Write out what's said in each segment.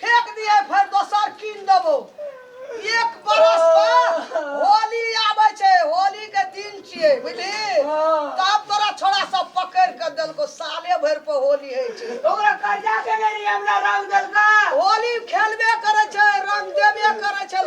फेंक दिए फेर दोसर कीन देबो एक बरस पर होली आबै छै होली के दिन छियै बुझली तब तोरा छोरा सब पकड़ के देलको साले भर पर होली होइ छै ओकरा कर्जा के नहीं रही हमरा रंग देलका होली खेलबे करे छै रंग देबे करे छै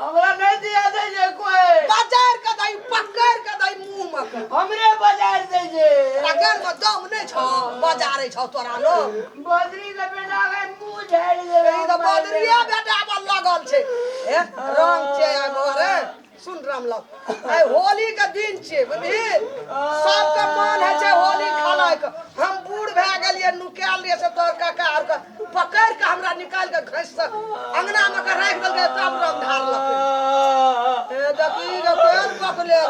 हमरा नहीं दिया दे जे कोई बाजार का दाई पकड़ का दाई मुंह में के। हमरे बाजार दे जे रगड़ में दम नहीं छो बाजारे छो तोरा लो बदरी के बेटा के मुंह झाड़ दे ई तो बदरिया बेटा पर लगल छे ए रंग छे आ मोरे सुन रामलाल आइ होली के दिन छे बुझी सबके मन है छे होली खेलाय के हम बूढ़ भए गेलिए नुकायल रहिए से तोर काका आर के पकड़ के हमरा निकाल के घस से अंगना में के राख देलके तब रंग धार लके ए देखी के तेल पकले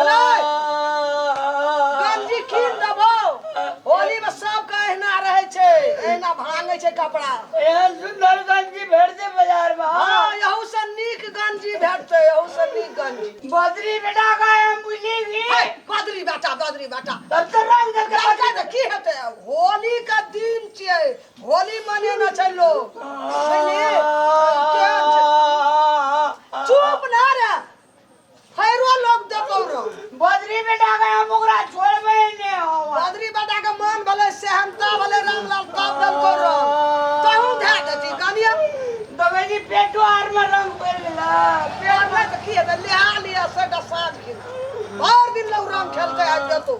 अरे गंजी कीन देबो होली में सब के एहना रहे छे एहना भांगे छे कपड़ा एहन सुंदर गंजी भेट दे बाजार में हाँ। हां यहू से नीक गंजी भेटते यहू से नीक गंजी बदरी बेटा का हम बुझी भी हे, बदरी बेटा बदरी बेटा तब तो रंग देलके रंग बदरी के की हेते अब होली के दिन छियै होली मनेने छै लोग बुझलियै? केहन छै? चुप ना रे फेरो लोग देखौ रहो बजरी बेटा के हम ओकरा छोड़बे ने हो बदरी बेटा के मन भले सेहनता भले रामलाल तब दल कर रहो कहूं धै देती कनिया दबे जी पेटो आर में रंग पड़ गेला प्यार में देखिए त लिहा लिया से का साँझ खिला भर दिन लोग रंग खेलते आज जतो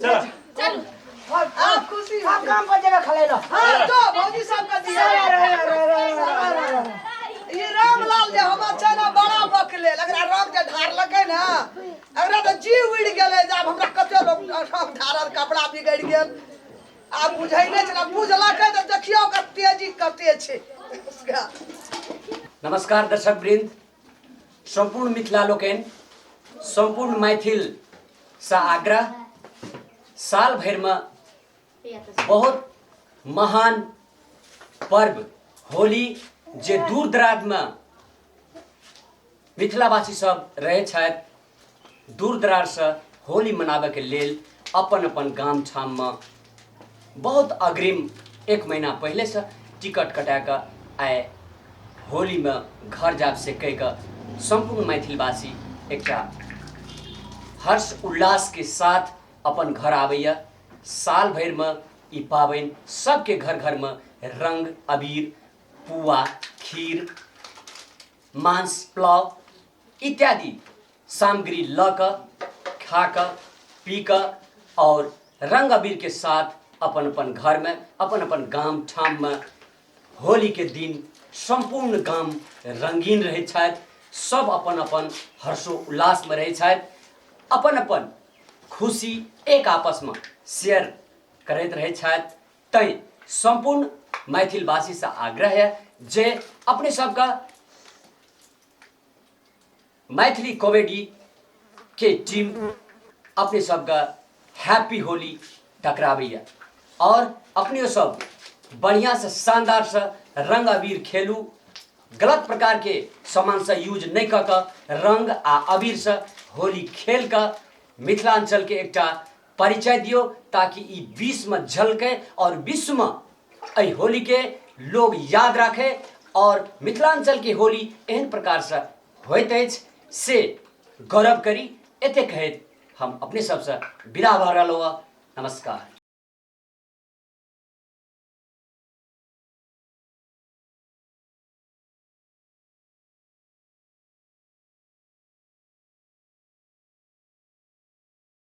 चल चल आप खुशी हो काम पर जगह खले लो हां तो भौजी सब का दिया ये रामलाल जे हम चना बड़ा बकले लगरा राम के धार लगे ना अगरा तो जी उड़ गेले जब हमरा कते लोग राम धारल कपड़ा बिगड़ गेल आ बुझै नै छला बुझला के तो देखियो के तेजी कते छै उसका नमस्कार दर्शक वृंद सम्पूर्ण मिथिला लोकनि सम्पूर्ण मैथिलसँ आग्रह साल भरिमे बहुत महान पर्व होली जे दूर दराजमे मिथिलावासी सब रहै छथि दूर दरार से होली मनाबे के लेल अपन अपन गाम छाम में बहुत अग्रिम एक महीना पहले से टिकट कटा के आए होली में घर जाब से कह के संपूर्ण मैथिलवासी एक हर्ष उल्लास के साथ अपन घर आबैया साल भर में ई पाबनि सबके घर घर में रंग अबीर पुआ खीर मांस पुलाव इत्यादि सामग्री लऽ कऽ खा कऽ पी कऽ आओर रंग अबीर के साथ अपन अपन घर में अपन अपन गाम ठाम में होली के दिन संपूर्ण गाम रंगीन रहे छथि सब अपन अपन हर्षो उल्लास में रहे छथि अपन अपन खुशी एक आपस में शेयर करैत रहे छथि तैं संपूर्ण मैथिलवासी से आग्रह है जे अपने सबके मैथिली कॉमेडी के टीम अपने सबके हैप्पी होली टकराबैया और अपने सब बढ़िया से शानदार से रंग अबीर खेलू गलत प्रकार के सामान से यूज नहीं कऽ कऽ रंग आ अबीर से होली खेल कऽ मिथिलांचल के एकटा परिचय दियो ताकि ई विश्व में झलके और विश्व में एहि होली के लोग याद राखे और मिथिलांचल के होली एहन प्रकार से होइत अछि से गौरव करी एते कहैत हम अपने सबसे विदा भऽ रहलहुँ हँ नमस्कार